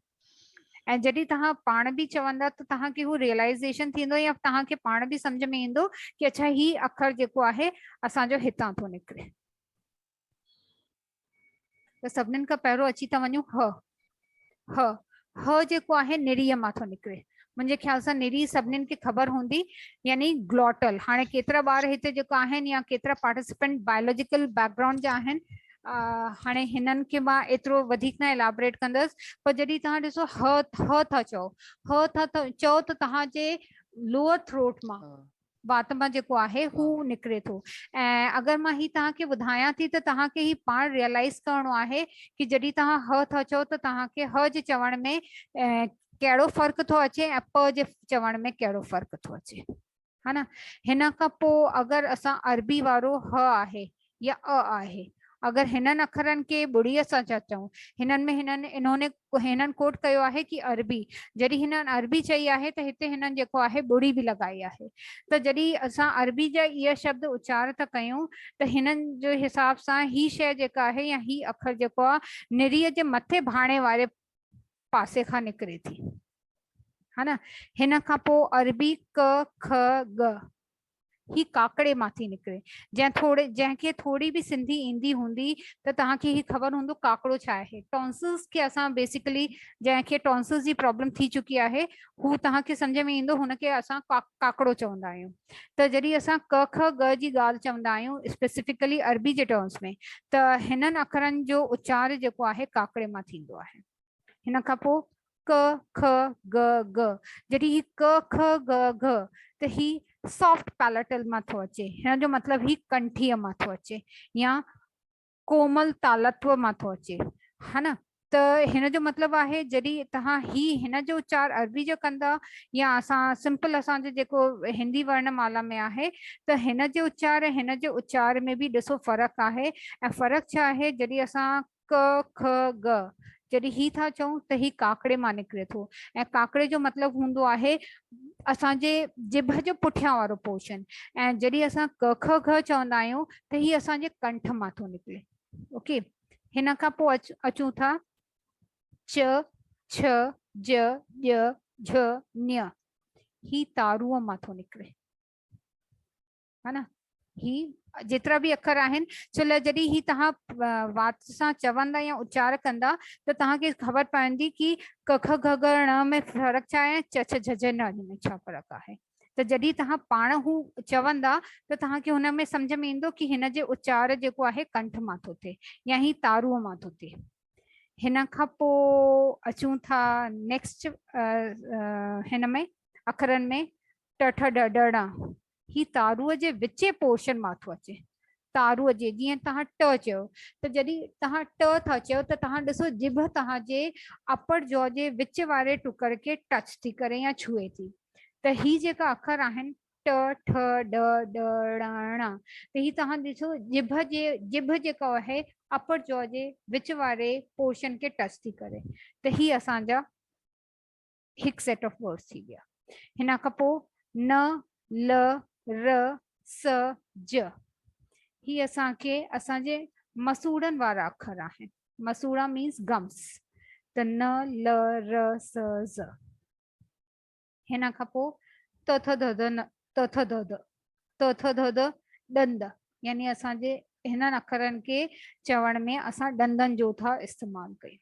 ۽ جڏهن توهان پاڻ به چوندا ته توهان کي هو ريئلائزيشن ٿيندو يا توهان کي پاڻ به سمجهه ۾ ايندو ڪي اڇا هي اکر جيڪو آهي اسان جو هتان ٿو نڪري. ته سڀنين کان پهريون اچي ٿا وڃون ه ه ه جيڪو آهي نري مان ٿو نڪري منهنجي خيال سان نري سڀنين کي خبر هوندي يعني گلوٽل هاڻي ڪيترا ٻار هتي جيڪو آهن يا ڪيترا پارٽيسپينٽ بايولوجيڪل بيڪ گراؤنڊ جا آهن هاڻي هنن کي مان ايترو وڌيڪ نه الابريٽ ڪندس پر جڏهن توهان ڏسو ه ه ٿا چئو ه ٿا چئو ته توهان جي لوئر ٿروٽ مان وات مان جيڪو آهي هو نڪري ٿو ۽ اگر مان هي توهان کي ٻڌايان ٿي ته توهان کي هي پاڻ ريئلائيز ڪرڻو آهي ڪي جڏهن توهان ه ٿا چئو ته توهان کي ه جي چوڻ ۾ ڪهڙو فرق ٿو اچي ۽ پ جي چوڻ ۾ ڪهڙو فرق ٿو اچي ها نه هن کان پوء اگر اسان عربي وارو ه آهي يا اء آهي. اگر هنن اکرن کي ٻڙيء سان ٿا چئون، هنن ۾ هنن انهوني هنن ڪوٽ ڪيو آهي ڪي عربي، جڏهن هنن عربي چئي آهي ته هتي هنن جيڪو آهي ٻڙي به لڳائي آهي ته جڏهن اسان عربي جا اهي شبد اچار ٿا ڪيون ته هنن جي حساب سان هي شيء جيڪا آهي يا هي اکر جيڪو آ نريء جي مٿي ڀاڻي واري پاسي کان نڪري ٿي. هن کان پوء عربي ڪ، که، ڳ هي ڪاڪڙي مان ٿي نڪري جنهن ٿوري جنهن کي ٿوري به سنڌي ايندي هوندي ته توهان کي هي خبر هوندو ڪاڪڙو ڇا آهي ٽونسلز کي اسان بيسيڪلي جنهن کي ٽونسلز جي پرابلم ٿي چڪي آهي هو توهان کي سمجھ ۾ ايندو هن کي اسان ڪاڪڙو چوندا آهيون ته جڏهن اسان ڪه که ڳ جي ڳالهه چوندا آهيون اسپيسيفڪلي عربي جي ٽرمز ۾ ته هنن اکرن جو اچار جيڪو آهي ڪاڪڙي مان ٿيندو آهي هن کان پوء ڪ که ڳ ڳ جڏهن هي ڪ که ڳ ڳ ته هي سافٽ پيليٽل مان ٿو اچي هن جو مطلب هي ڪنٺي مان ٿو اچي يا ڪومل تالتو مان ٿو اچي ها نه ته هن جو مطلب آهي جڏهن توهان هي هن جو اچار عربي جو ڪندا يا اسان سمپل اسان جو جيڪو هندي ورن مالا ۾ آهي ته هن جو اچار هن جو اچار ۾ به ڏسو فرق آهي ۽ فرق ڇا آهي جڏهن اسان ڪ کھ ڳ جڏھن ھي ٿا چئون ته ھي ڪاڪڙي مان نڪري ٿو ۽ ڪاڪڙي جو مطلب ھوندو آھي اسان جي جبھ جو پٺيان وارو پورشن ۽ جڏھن اسان ڪ کھ ڳ چوندا آھيون ته ھي اسان جي ڪنٺ مان ٿو نڪري اوڪي ھن کان پوء اچون ٿا چ چھ ج ڄ جھ ن ھي تارو مان ٿو نڪري ها نه هي جيترا به اکر آهن ڇو لاء جڏهن هي توهان وات سان چوندا يا اچار ڪندا ته توهان کي خبر پوندي ڪي ڪک گھ گھ ڻ ۾ فرق ڇا آهي چ چ جھ جھ ن ن ۾ ڇا فرق آهي ته جڏهن توهان پاڻ هو چوندا ته توهان کي هن ۾ سمجھ ۾ ايندو ڪي هن جي اچار جيڪو آهي ڪنٺ مان ٿو ٿئي يا هي تارو مان ٿو ٿئي هن کان پو اچون ٿا نيڪسٽ هن ۾ اکرن ۾ ٽ ٺ ڊ ڊ ڙ هي تارو جي وچين پورشن مان ٿو اچي تارو جي جيئن توهان ٽ چيو ته جڏهن توهان ٽ ٿا چيو ته توهان ڏسو جبهه توهان جي اپر جو جي وچ واري ٽڪر کي ٽچ ٿي ڪري يا ڇهي ٿي ته هي جيڪا اکر آهن ٽ ٺ ڊ ڊ ڙ ڻ ته هي توهان ڏسو جبهه جي جبهه جيڪا آهي اپر جو جي وچ واري پورشن کي ٽچ ٿي ڪري ته هي اسان جا هڪ سيٽ آف ورڊز ٿي ويا هن کان پوء ن ل ر س ج هي اسان کي اسان جي مسوڙن وارا اکر آهن مسوڙا مينس گمس ته ن ل ر س ز هن کان پوء ت ٿ د د ت ٿ د د ت ٿ د د ڏند يعني اسان جي هنن اکرن کي چوڻ ۾ اسان ڏندن جو ٿا استعمال ڪيون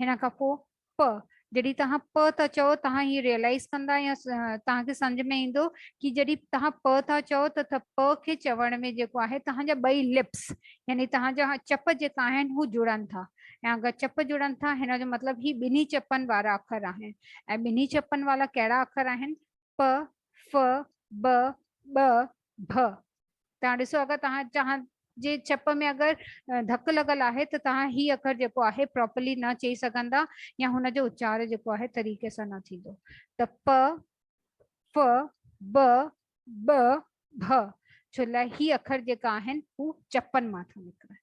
هن کان پوء پ جڏهن توهان پ ٿا چئو توهان هي ريئلائز ڪندا يا توهان کي سمجھ ۾ ايندو ڪي جڏهن توهان پ ٿا چئو ته ٿ پ کي چوڻ ۾ جيڪو آهي توهان جا ٻئي لپس يعني توهان جا چپ جيڪا آهن هو جڙن ٿا ۽ اگر چپ جڙن ٿا هن جو مطلب هي ٻنهي چپن وارا اکر آهن ۽ ٻنهي چپن وارا ڪهڙا اکر آهن پ ف ب ٻ ڀ توهان ڏسو اگر توهان توهان جي چپ ۾ اگر ڌڪ لڳل آهي ته توهان هي اکر جيڪو آهي پراپرلي نه چئي سگهندا يا هن جو اچار جيڪو آهي طريقي سان نه ٿيندو ته پ ف ب ٻ ڀ ڇو لاء هي اکر جيڪا آهن هو چپن مان ٿا نڪرن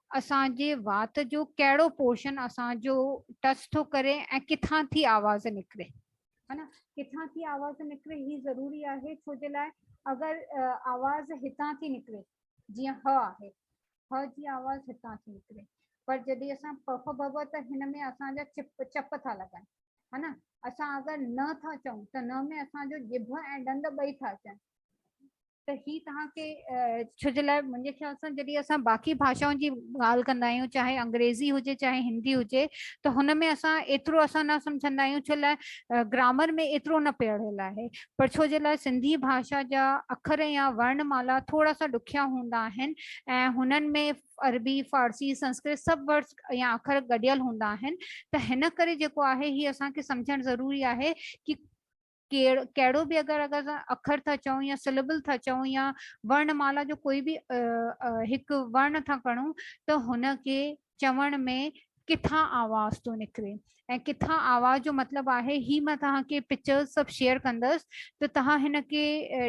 اسان جي وات جو ڪهڙو پورشن اسان جو ٽچ ٿو ڪري ۽ ڪٿان ٿي آواز نڪري ها نه ڪٿان ٿي آواز نڪري هي ضروري آهي ڇو جي لاء اگر آواز هتان ٿي نڪري جيئن ه آهي ه جي آواز هتان ٿي نڪري پر جڏهن اسان پف بب ته هن ۾ اسان جا چپ چپ ٿا لڳن ها نه اسان اگر نه ٿا چئون ته نه ۾ اسان جو جڀ ۽ ڏند ٻئي ٿا اچن ته هي توهان کي ڇو جي لاء منهنجي خيال سان جڏهن اسان باقي ڀاشائن جي ڳالهه ڪندا آهيون چاهي انگريزي هجي چاهي هندي هجي ته هن ۾ اسان ايترو اسان نه سمجهندا آهيون ڇو لاء گرامر ۾ ايترو نه پيڙهيل آهي پر ڇو جي لاء سنڌي ڀاشا جا اکر يا ورن مالا ٿورا سا ڏکيا هوندا آهن ۽ هنن ۾ عربي فارسي سنسڪرت سڀ ورڊس يا اکر گڏيل هوندا آهن ته هن ڪري جيڪو آهي هي اسان کي سمجهڻ ضروري آهي ڪي ڪهڙو به اگر اگر اسان اکر ٿا چئون يا سليبل ٿا چئون يا ورڻ مالا جو ڪوئي به هڪ ورڻ ٿا کڻون ته هن کي چوڻ ۾ ڪٿان آواز ٿو نڪري ۽ ڪٿان آواز جو مطلب آهي هي مان توهان کي پڪچرز سڀ شيئر ڪندس ته توهان هن کي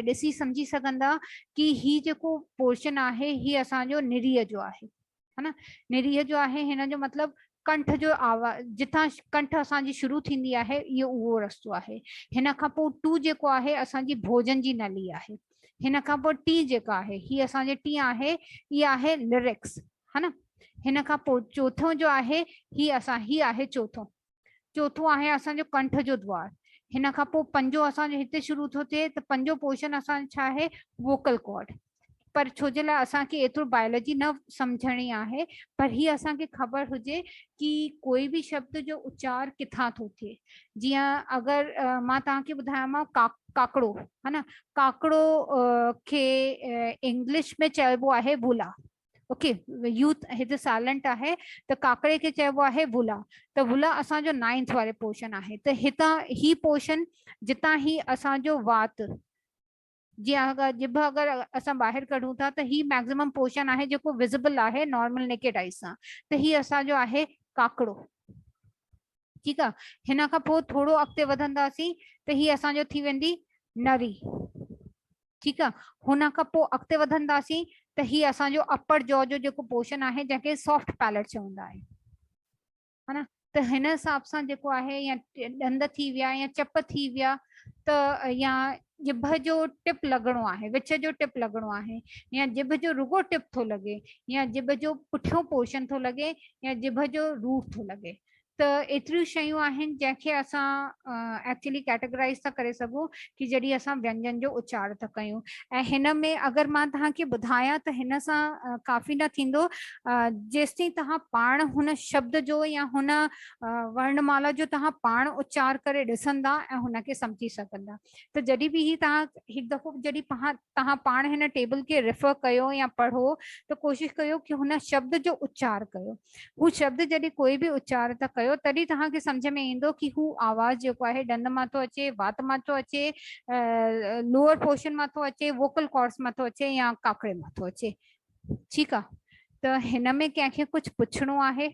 ڏسي سمجهي سگهندا ڪي هي جيڪو پورشن آهي هي اسان جو نريء جو آهي ها نه نريه جو آهي هن جو مطلب ڪنٺ جو آواز جتان ڪنٺ اسان جي شروع ٿيندي آهي اهو اهو رستو آهي هن کان پوء ٽو جيڪو آهي اسان جي ڀوجن جي نلي آهي هن کان پوء ٽي جيڪا آهي هي اسان جي ٽي آهي اها آهي لرڪس ها نه هن کان پوء چوٿون جو آهي هي اسان هي آهي چوٿون چوٿون آهي اسان جو ڪنٺ جو دوار هن کان پوء پنجو اسان جو هتي شروع ٿو ٿئي ته پنجو پورشن اسان جو ڇا آهي ووڪل ڪارڊ پر ڇو جي لاء اسان کي ايترو بائيولوجي نه سمجهڻي آهي پر هي اسان کي خبر هجي ڪي ڪوئي به شبد جو اچار ڪٿان ٿو ٿئي جيئن اگر مان توهان کي ٻڌايان مان ڪاڪڙو ها نه ڪاڪڙو کي انگلش ۾ چئبو آهي ولا اوڪي يوٿ هت سائلنٽ آهي ته ڪاڪڙي کي چئبو آهي ولا ته ولا اسانجو نائنٿ واري پورشن آهي ته هتان هي پورشن جتان هي اسانجو وات جي اگر جب اگر اسان ٻاهر ڪڍون ٿا ته هي ميڪسيمم پورشن آهي جيڪو وزبل آهي نارمل نيڪيڊ آئي سان ته هي اسانجو آهي ڪاڪڙو ٺيڪ آ هن کان پوء ٿورو اڳتي وڌنداسين ته هي اسانجو ٿي ويندي نري ٺيڪ آ هن کان پوء اڳتي وڌنداسين ته هي اسان جو اپر جو جو جيڪو پورشن آهي جنهن کي سافٽ پيلٽ چوندا آهي ها نه ته هن حساب سان جيڪو آهي يا ڏند ٿي ويا يا چپ ٿي ويا ته يا ڄڀ جو ٽپ لڳڻو آهي وچ جو ٽپ لڳڻو آهي يا ڄڀ جو رڳو ٽپ ٿو لڳي يا ڄڀ جو پٺيون پورشن ٿو لڳي يا ڄڀ جو روٽ ٿو لڳي ته ايتريون شيون آهن جنهن کي اسان ايڪچولي ڪيٽيگرائيز ٿا ڪري سگهون ڪي جڏهن اسان وينجن جو اچار ٿا ڪيون ۽ هن ۾ اگر مان توهان کي ٻڌايان ته هن سان ڪافي نه ٿيندو جيستائين توهان پاڻ هن شبد جو يا هن ورن مالا جو توهان پاڻ اچار ڪري ڏسندا ۽ هن کي سمجهي سگهندا ته جڏهن به هي توهان هڪ دفعو جڏهن پهان توهان پاڻ هن ٽيبل کي ريفر ڪيو يا پڙهو ته ڪوشش ڪيو ڪي هن شبد جو اچار ڪيو. هو شبد جڏهن ڪوئي به اچار ٿا ڪيو تڏهن توهان کي سمجهه ۾ ايندو ڪي هو آواز جيڪو آهي ڏند مان ٿو اچي، وات مان ٿو اچي، لوئر پورشن مان ٿو اچي، ووڪل ڪارڊس مان ٿو اچي يا ڪاڪڙي مان ٿو اچي. ٺيڪ آ ته هن ۾ ڪنهن کي ڪجهه پڇڻو آهي؟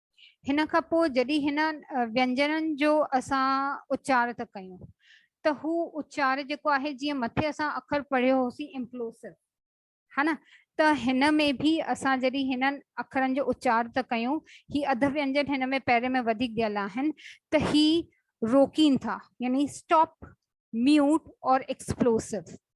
هن کان پوء جڏهن هن وينجنن جو اسان اچار ٿا ڪيون ته هو اچار جيڪو آهي جيئن مٿي اسان اکر پڙهيو هوسين امپلوسو ها نه ته هن ۾ به اسان جڏهن هنن اکرن جو اچار ٿا ڪيون هي اڌ وينجن هن ۾ پهرين ۾ وڌيڪ ڏيل آهن ته هي روڪين ٿا يعني اسٽاپ ميوٽ اور ايڪسپلوسو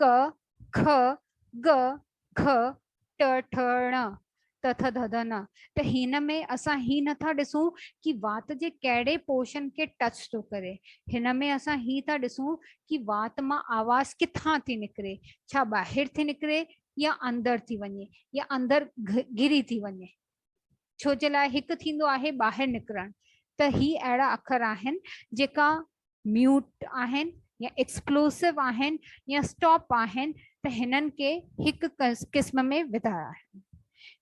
ڪ، کء، ڳ، گھء، ٽ، ٺ، ڻ، ت، ٿ، ڌ، ڌ، ن، ته هن ۾ اسان هي نٿا ڏسون ڪي وات جي ڪهڙي پورشن کي ٽچ ٿو ڪري، هن ۾ اسان هي ٿا ڏسون ڪي وات مان آواز ڪٿان ٿي نڪري، ڇا ٻاهر ٿي نڪري يا اندر ٿي وڃي يا اندر گھري ٿي وڃي. ڇو جي لاء هڪ ٿيندو آهي ٻاهر نڪرڻ ته هي اهڙا اکر آهن جيڪا ميوٽ آهن يا ايڪسپلوسو آهن يا اسٽاپ آهن ته هنن کي هڪ قسم ۾ وڌايا آهن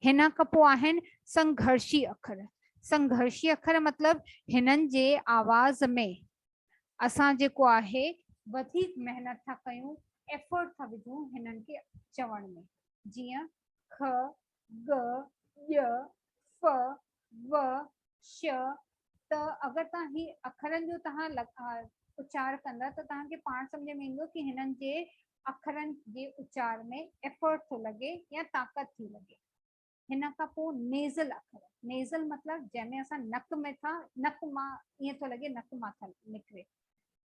هن کان پوء آهن سنگهرشي اکر سنگهرشي اکر مطلب هنن جي آواز ۾ اسان جيڪو آهي وڌيڪ محنت ٿا ڪيون ايفورٽ ٿا وجھون هنن کي چوڻ ۾ جيئن کھ ڳ، ڄ، ف، و، ش، ت اگر توهان هي اکرن جو توهان اچار ڪندا ته توهان کي پاڻ سمجهه ۾ ايندو ته هنن جي اکرن جي اچار ۾ ايفرٽ ٿو لڳي يا طاقت ٿي لڳي. هن کان پوء نيزل اکر، نيزل مطلب جنهن ۾ اسان نڪ ۾ ٿا نڪ مان ائين ٿو لڳي نڪ مان ٿا نڪري،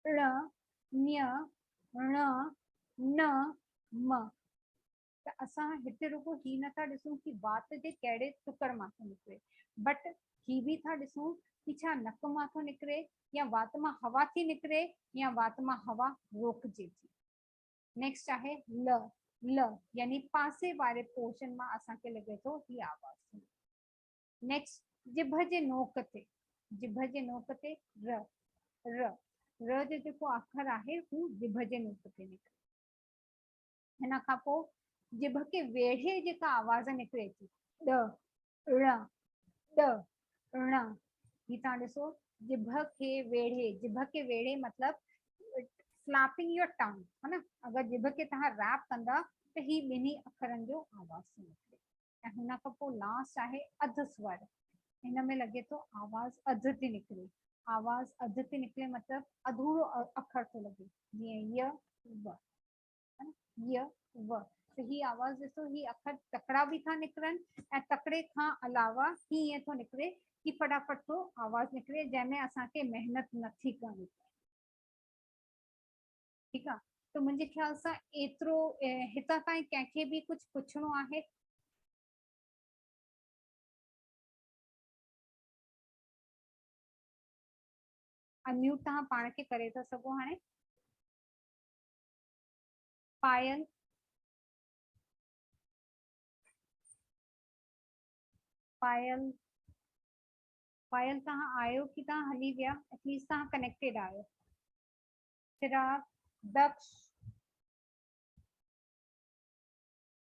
ڙ، ڃ، ڻ، ن، م، ته اسان هتي رڳو هي نه ٿا ڏسون ڪي وات جي ڪهڙي ٽڪر مان ٿو نڪري بٽ هي به ٿا ڏسون ڪي ڇا نڪ مان ٿو نڪري يا وات مان هوا ٿي نڪري يا وات مان هوا روڪجي ٿي. نيڪسٽ آهي ل ل يعني پاسي واري پورشن مان اسان کي لڳي ٿو هي آواز ٿو نڪري. نيڪسٽ جبهه جي نوڪ تي جبهه جي نوڪ تي ر ر ر جو جيڪو آخر آهي هو جبهه جي نوڪ تي نڪري. ان کان پوء جڀ کي ويڙهي جيڪا آواز نڪري ٿي، ڏ، ڙ، ڏ، ڻ، هي توهان ڏسو جڀ کي ويڙهي، جڀ کي ويڙهي مطلب فلاپنگ يور ٽنگ ها نه اگر جڀ کي توهان ريپ ڪندا ته هي ٻنهي اکرن جو آواز ٿي نڪري ۽ هن کان پوء لاسٽ آهي اڌ سور هن ۾ لڳي ٿو آواز اڌ ٿي نڪري آواز اڌ ٿي نڪري مطلب اڌورو اکر ٿو لڳي جيئن ي و ي و ته هي آواز ڏسو هي اکر تڪڙا به ٿا نڪرن ۽ تڪڙي کان علاوه هي ائين ٿو نڪري هي فٽافٽ ٿو آواز نڪري جنهن ۾ اسان کي محنت نه ٿي ڪرڻي پئي ٺيڪ آ ته منهنجي خيال سان ايترو هتان تائين ڪنهن کي به ڪجهه پڇڻو آهي انميوٽ تهان پاڻ کي ڪري ٿا سگهو هاڻي پايل پايل پايل تان آيو ڪي تان هلي ويا ايٽ ليسٽ تان ڪنيڪٽيڊ آيو چراغ دڪش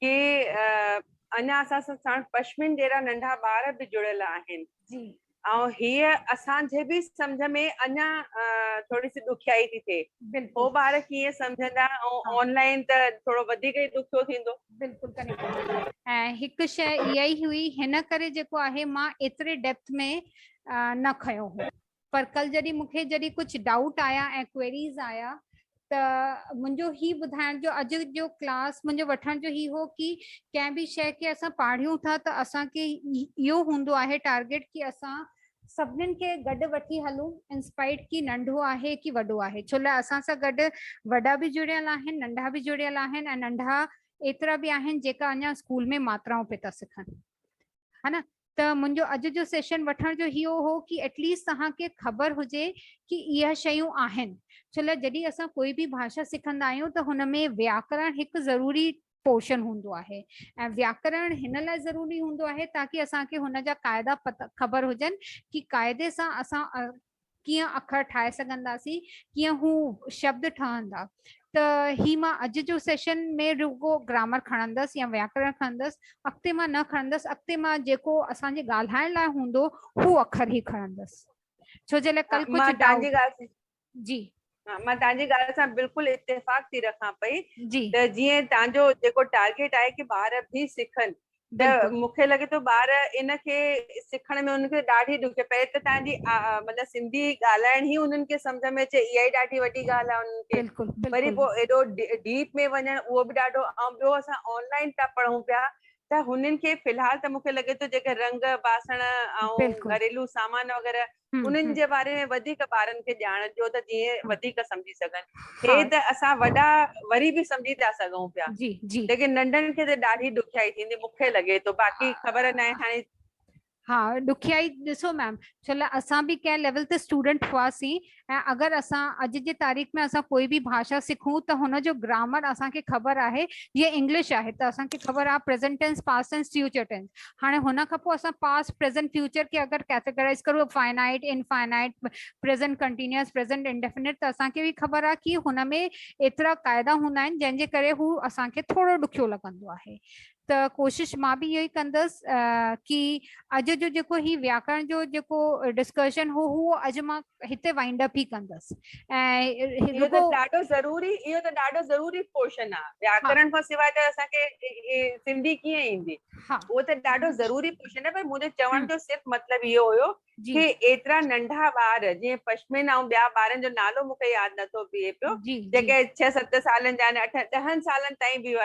ڪي اڃا اسان سان ساڻ پشمين جهڙا ننڍا ٻار به جڙيل آهن ۽ هيء اسان جي به سمجهه ۾ اڃا ٿوري سي ڏکيائي ٿي ٿئي. هو ٻار ڪيئن سمجهندا ۽ آن لائين ته ٿورو وڌيڪ ئي ڏکيو ٿيندو. بلڪل ڪنيڪٽ هڪ شيء اها ئي هئي هن ڪري جيڪو آهي مان ايتري ڊيپٿ ۾ نه کنيو هو. پر ڪل جڏهن مون کي جڏهن ڪجهه ڊائوٽ آيا ۽ ڪوئريز آيا ته منهنجو هي ٻڌائڻ جو اڄ جو ڪلاس منهنجو وٺڻ جو هي هو ڪي ڪنهن به شيء کي اسان پاڙهيون ٿا ته اسان کي اهو هوندو آهي ٽارگيٽ ڪي اسان سڀنن کي گڏ وٺي هلون انسپائيٽ ڪي ننڍو آهي ڪي وڏو آهي ڇو لاء اسان سان گڏ وڏا به جڙيل آهن ننڍا به جڙيل آهن ۽ ننڍا ايترا به آهن جيڪا اڃا اسڪول ۾ ماترائون پي ٿا سکن ها نه ته منهنجو اڄ جو سيشن وٺڻ جو هيئو هو ڪي ايٽ ليسٽ توهان کي خبر هجي ڪي اهي شيون آهن ڇولا جڏهن اسان ڪوئي به ڀاشا سکندا آهيون ته هن ۾ وياڪرڻ هڪ ضروري پورشن هوندو آهي ۽ وياڪرڻ هن لاء ضروري هوندو آهي تاڪي اسان کي هن جا قاعدا پت خبر هجن ڪي قاعدي سان اسان ڪيئن اکر ٺاهي سگهنداسين ڪيئن هو شبد ٺهندا ته هي مان اڄ جو سيشن ۾ رڳو گرامر کڻندس يا وياڪرڻ کڻندس اڳتي مان نه کڻندس اڳتي مان جيڪو اسان جي ڳالهائڻ لاء هوندو هو اکر هي کڻندس ڇو جي لاء ڪل ڪجهه جي ها مان تنهن جي ڳالهه سان بلڪل اتفاق ٿي رکان پئي ته جيئن تنهن جو جيڪو ٽارگيٽ آهي ڪي ٻار به سکن ته مون کي لڳي ٿو ٻار ان کي سکڻ ۾ انهن کي ڏاڍي ڏکي پئي ته تنهن جي مطلب سنڌي ڳالهائڻ هي انهن کي سمجهه ۾ اچي اها ئي ڏاڍي وڏي ڳالهه آهي انهن کي بلڪل وري پو ايڏو ڊيپ ۾ وڃڻ اهو به ڏاڍو ۽ ٻيو اسان آنلائن ٿا پڙهون پيا ته هنن کي في الحال ته مون کي لڳي ٿو جيڪي رنگ باسڻ ۽ گهريلو سامان وغيره انهن جي باري ۾ وڌيڪ ٻارن کي ڄاڻ ڏيو ته جيئن وڌيڪ سمجهي سگهن. هي ته اسان وڏا وري به سمجهي ٿا سگهون پيا. ليڪن ننڍن کي ته ڏاڍي ڏکيائي ٿيندي مون کي لڳي ٿو. باقي خبر ناهي هاڻي. ها ڏکيائي ڏسو ميم ڇل اسان به ڪنهن ليول تي اسٽوڊنٽ هئاسين ۽ اگر اسان اڄ جي تاريخ ۾ اسان ڪوئي به ڀاشا سکون ته هن جو گرامر اسان کي خبر آهي جيئن انگلش آهي ته اسان کي خبر آهي present tense past tense future tense هاڻي هن کان پوء اسان پاسٽ پريزنٽ فيوچر کي اگر ڪيٽيگرائز ڪريون finite infinite present continuous present indefinite ته اسان کي به خبر آهي ڪي هن ۾ ايترا قاعدا هوندا آهن جنهن جي ڪري هو اسان کي ٿورو ڏکيو لڳندو آهي ته ڪوشش مان به اهو ئي ڪندس ڪي اڄ جو جيڪو هي وياڪرڻ جو جيڪو ڊسڪشن هو هو اڄ مان هتي وائنڊ اپ ئي ڪندس ۽ اهو ته ڏاڍو ضروري اهو ته ڏاڍو ضروري پورشن آ وياڪرن کان سواء ته اسان کي سنڌي ڪيئن ايندي اهو ته ڏاڍو ضروري پورشن آ پر منهنجو چوڻ جو صرف مطلب اهو هيو ڪي ايترا ننڍا ٻار جيئن پشمين ۽ ٻيا ٻارن جو نالو مون کي ياد نٿو بيهي پيو جيڪي ڇهه ست سالن جا آهن اٺ ڏهن سالن تائين به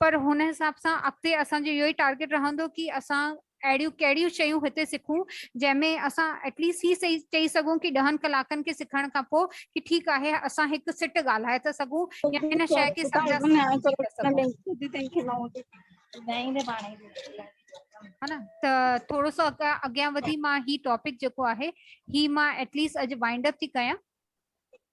پر هن حساب سان اڳتي اسان جو اهو ئي ٽارگيٽ رهندو ڪي اسان اهڙيون ڪهڙيون شيون هتي سکون جنهن ۾ اسان ايٽ ليسٽ هي سهي چئي سگهون ڪي ڏهن ڪلاڪن کي سکڻ کان پوء ڪي ٺيڪ آهي اسان هڪ سٽ ڳالهائي ته سگهون يا هن شيء کي سمجها سمجهي ته سگهون. ها نه ته ٿورو سو اڳيان وڌي مان هي ٽاپڪ جيڪو آهي هي مان ايٽ ليسٽ اڄ وائنڊ اپ ٿي ڪيان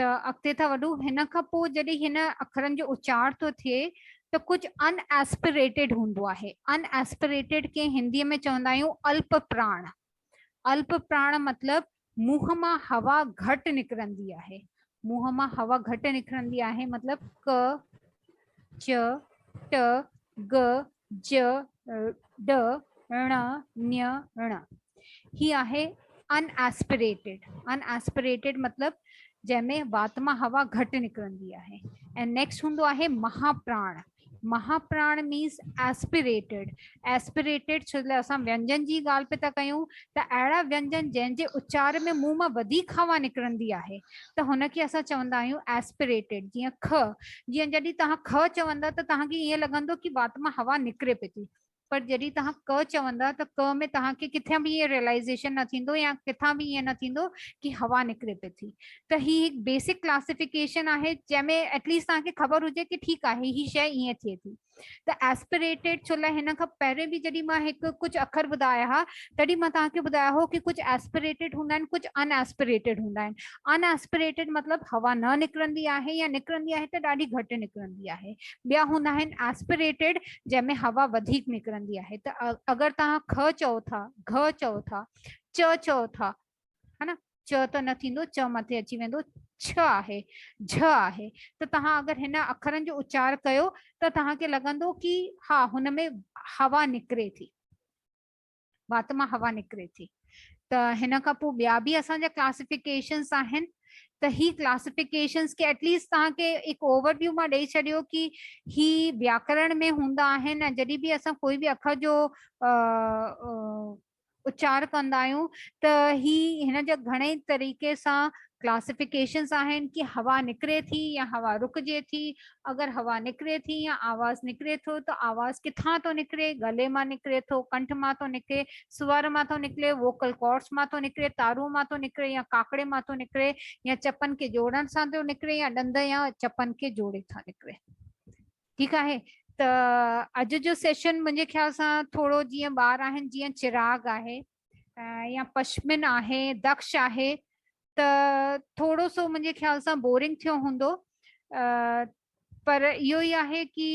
ته اڳتي ٿا وڌون هن کان پوء جڏهن هن اکرن جو اچار ٿو ٿئي ته ڪجهه ان ايسپريٽيڊ هوندو آهي ان ايسپريٽيڊ کي هندي ۾ چوندا آهيون الپ پراڻ الپ پراڻ مطلب منهن مان هوا گهٽ نڪرندي آهي منهن مان هوا گهٽ نڪرندي آهي مطلب ڪ چ ٽ گ ج، ڊ، ڻ، ن، ڻ. هي آهي ان ايسپريٽيڊ. ان ايسپريٽيڊ مطلب جنهن ۾ وات مان هوا گهٽ نڪرندي آهي. ۽ نيڪسٽ هوندو آهي مها پراڻ. مها پراڻ مينس ايسپريٽيڊ. ايسپريٽيڊ ڇو لاء اسان وينجن جي ڳالهه پئي ٿا ڪيون ته اهڙا وينجن جنهن جي اچار ۾ منهن مان وڌيڪ هوا نڪرندي آهي. ته هن کي اسان چوندا آهيون Aspirated جيئن خ جيئن جڏهن توهان خ چوندا ته توهان کي ائين لڳندو ڪي وات مان هوا نڪري پئي ٿي پر جڏهن توهان ڪه چوندا ته ڪه ۾ توهان کي ڪٿان به ائين Realization نه ٿيندو يا ڪٿان به ائين نه ٿيندو ڪي هوا نڪري پئي ٿي ته هي هڪ Basic Classification آهي جنهن ۾ Atleast توهان کي خبر هجي ڪي ٺيڪ آهي هي شئي ائين ٿئي ٿي ته Aspirated ڇو لاء هن کان پهرين به جڏهن مان هڪ ڪجهه اکر ٻڌايا ها تڏهن مان توهان کي ٻڌايو هو ڪي ڪجهه Aspirated هوندا آهن ڪجهه Unaspirated هوندا آهن Unaspirated مطلب هوا نه نڪرندي آهي يا نڪرندي آهي ته ڏاڍي گهٽ نڪرندي آهي ٻيا هوندا آهن Aspirated جنهن ۾ هوا وڌيڪ نڪرندي آهي ته اگر توهان که چئو ٿا گهه چئو ٿا چه چئو ٿا ها نه چء ته نه ٿيندو چء مٿي اچي ويندو چھ آهي جھ آهي ته توهان اگر هن اکرن جو اچار ڪيو ته توهان کي لڳندو ڪي ها هن ۾ هوا نڪري ٿي وات مان هوا نڪري ٿي ته هن کان پوء ٻيا به اسان جا ڪلاسيفڪيشنس آهن ته هي ڪلاسيفڪيشنس کي ايٽليسٽ توهان کي هڪ اوور ويو مان ڏيئي ڇڏيو ڪي هي وياڪرڻ ۾ هوندا آهن ۽ جڏهن به اسان ڪوئي به اکر جو اچار ڪندا آهيون ته هي هن جا گهڻي طريقي سان ڪلاسيفڪيشنز آهن ڪي هوا نڪري ٿي يا هوا رڪجي ٿي اگر هوا نڪري ٿي يا آواز نڪري ٿو ته آواز ڪٿان ٿو نڪري ڳلي مان نڪري ٿو ڪنٺ مان ٿو نڪري سور مان ٿو نڪري ووڪل ڪارڊس مان ٿو نڪري تارون مان ٿو نڪري يا ڪاڪڙي مان ٿو نڪري يا چپن کي جوڙڻ سان ٿو نڪري يا ڏند يا چپن کي جوڙي ٿا نڪري ٺيڪ آهي ته اڄ جو سيشن منهنجي خيال سان ٿورو جيئن ٻار آهن جيئن چراغ آهي يا پشمن آهي دخش آهي ته ٿورو سو منهنجي خيال سان بورنگ ٿيو هوندو پر اهو ئي آهي ڪي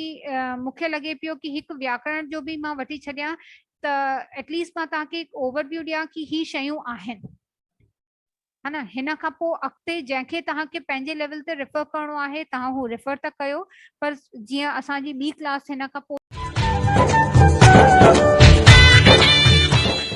مونکي لڳي پيو ڪي هڪ وياڪرڻ جو به مان وٺي ڇڏيان ته ايٽليسٽ مان توهان کي هڪ اوور ويو ڏيان ڪي هي شيون آهن ها نه هن کان پوء اڳتي جنهن کي توهان کي پنهنجي ليول تي ريفر ڪرڻو آهي توهان هو ريفر ته ڪيو پر جيئن اسان جي ٻي ڪلاس هن کان پوء.